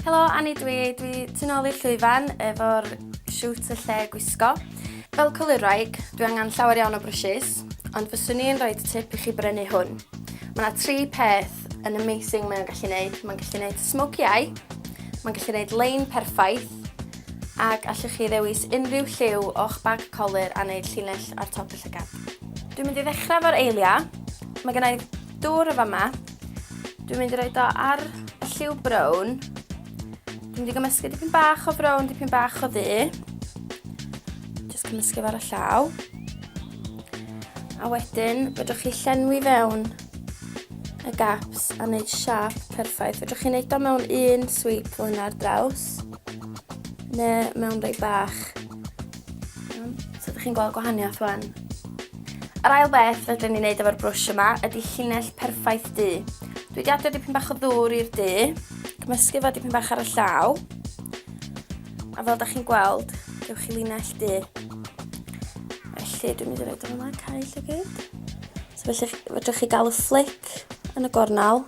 Helo, Annie dwi. Dwi tu nôl i'r llwyfan efo'r siwt y lle gwisgo. Fel colurwraig, dwi angen llawer iawn o brwshys, ond fyswn i'n rhoi tip i chi brynu hwn. Mae yna tri peth yn amazing mae'n gallu gwneud. Mae'n gallu gwneud smoky eye, mae'n gallu gwneud lein perffaith, ac allwch chi ddewis unrhyw lliw o'ch bag colur a wneud llinell ar top y llygad. Dwi'n mynd i ddechrau efo'r eiliau. Mae gennau dŵr o fama, Dwi'n mynd i roed o ar y lliw brown. Dwi'n mynd i gymysgu dipyn bach o brown, dipyn bach o ddu. Just cymysgu fo ar y llaw. A wedyn, fedrwch chi llenwi fewn y gaps a wneud siap perffaith. Fedrwch chi wneud o mewn un sweep o hynna ar draws, neu mewn rhai bach. So, ydych chi'n gweld gwahaniaeth wan? Yr ail beth fedrwn ni wneud efo'r brwsh yma ydy llinell perffaith du. Dwi wedi adio dipyn bach o ddŵr i'r du, cymysgu fo dipyn bach ar y llaw, a fel da chi'n gweld, gewch chi linell du. Felly dwi'n mynd i roed o'n yma, cael lle gyd. So felly fedrwch chi gael y fflic yn y gornel,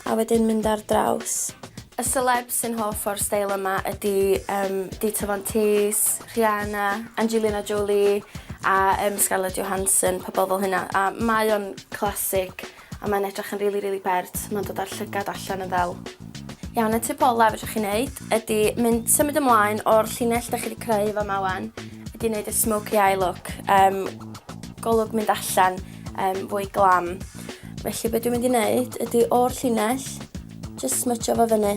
A wedyn mynd ar draws. Y selebs sy'n hoff o'r steil yma ydi um, Dita Von Teese, Rihanna, Angelina Jolie a um, Scarlett Johansson, pobl fel hynna. A mae o'n classic a mae'n edrych yn rili, really, rili really bert. Mae'n dod â'r llygad allan yn ddel. Iawn, y tip olaf ydych chi'n neud ydy mynd symud ymlaen o'r llinell ydych chi wedi creu fo mawan, ydy wneud y smoky eye look, um, golwg mynd allan um, fwy glam. Felly beth dwi'n mynd i wneud ydy o'r llinell, just smytio fo fyny.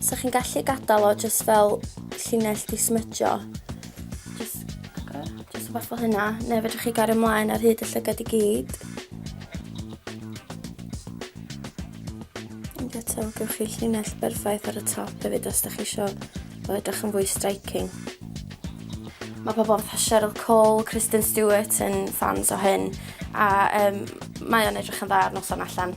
So chi'n gallu gadael o just fel llinell di smytio. Just, just fath o hynna, neu fedrwch chi gario ymlaen ar hyd y llygad i gyd. Ond eto, gywch chi llinell berffaith ar y top hefyd os da chi eisiau Mae'n edrych yn fwy striking. Mae pobl fatha Cheryl Cole, Kristen Stewart yn ffans o hyn, a um, mae o'n edrych yn dda ar noson allan.